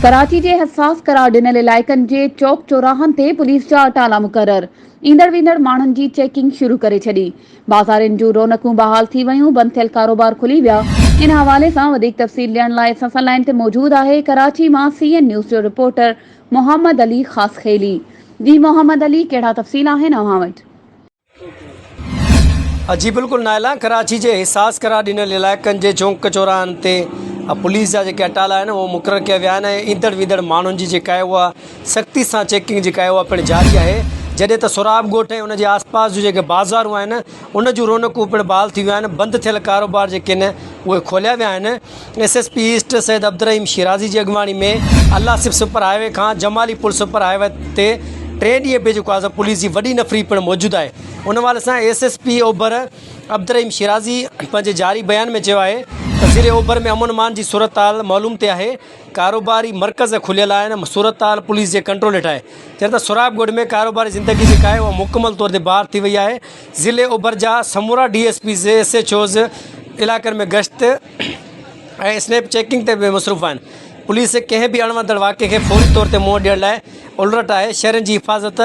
ڪراچي جي حساس قرار ڏنل علائقن جي چوڪ چوراهن تي پوليس جا اٽالا مقرر، ايندڙ ويندڙ ماڻهن جي چيڪنگ شروع ڪري ڇڏي، بازارين جون رونقون بحال ٿي ويون، بند ٿيل ڪاروبار کلي ويا. ان حوالي سان وڌيڪ تفصيل ڏيڻ لاء اسان سان لائين تي موجود آهي ڪراچي مان سي اين نيوز جو رپورٽر محمد علي خاصخيلي. جي محمد علي ڪهڙا تفصيل آهن اوهان وٽ؟ جي بلڪل نائلا ڪراچي جي حساس قرار ڏنل علائقن جي چونڪ چوراهن تي پوليس جا جيڪي اٽالا آهن اهي مقرر ڪيا ويا آهن ۽ ايندڙ ويندڙ ماڻهن جي جيڪا آهي اها سختي سان چيڪنگ جيڪا آهي اها پڻ جاري آهي جڏهن ته سوراب ڳوٺ ۽ ان جي آس پاس جون جيڪي بازارون آهن ان جون رونقون پڻ بحال ٿي ويون آهن بند ٿيل ڪاروبار جيڪي آهن اهي کوليا ويا آهن S S P east Syed Abdulrahim Shirazi جي اڳواڻي ۾ الله سب سپر هاء وي کان جمالي پل سپر هاء وي تي ٽئين ڏينهن به جيڪو آزم پوليس جي وڏي نفري پڻ موجود آهي ان حوالي سان ايس ايس پي اوڀر عبدالرحيم شيرازي پنهنجي جاري بيان ۾ چيو آهي ته ضلعي اوڀر ۾ امن امان جي صورتحال معلوم تي آهي ڪاروباري مرڪز کليل آهن صورتحال پوليس جي ڪنٽرول هيٺ آهي چين ته سوراب ڳوٺ ۾ ڪاروباري زندگي جيڪا آهي اها مڪمل طور تي بحال ٿي وئي آهي ضلعي اوڀر جا سمورا D S Ps S H Os علائقن ۾ گشت ۽ اسنيپ چيڪنگ تي به مصروف آهن پوليس ڪنهن به اڻوڻتڙ واقعي کي فوري طور تي منهن ڏيڻ لاء الرٽ آهي شهرين جي حفاظت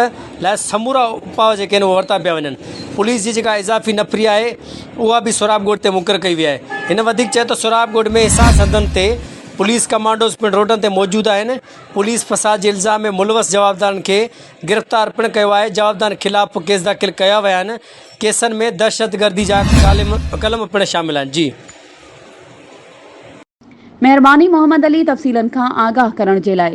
لاء سمورا اپاء جيڪي آهن اهي ورتا پيا وڃن پوليس جي جيڪا اضافي نفري آهي اها به سهراب ڳوٺ تي مقرر ڪئي وئي آهي هن وڌيڪ چيو ته سهراب ڳوٺ ۾ حساس حدن تي پوليس ڪمانڊوز پڻ روڊن تي موجود آهن پوليس فساد جي الزام ۾ ملوث جوابدارن کي گرفتار پڻ ڪيو آهي جوابدارن خلاف به ڪيس داخل ڪيا ويا آهن ڪيسن ۾ دهشتگردي جا قلم پڻ شامل آهن جي. مهرباني محمد علي تفصيلن کان آگاهه ڪرڻ جي لاء.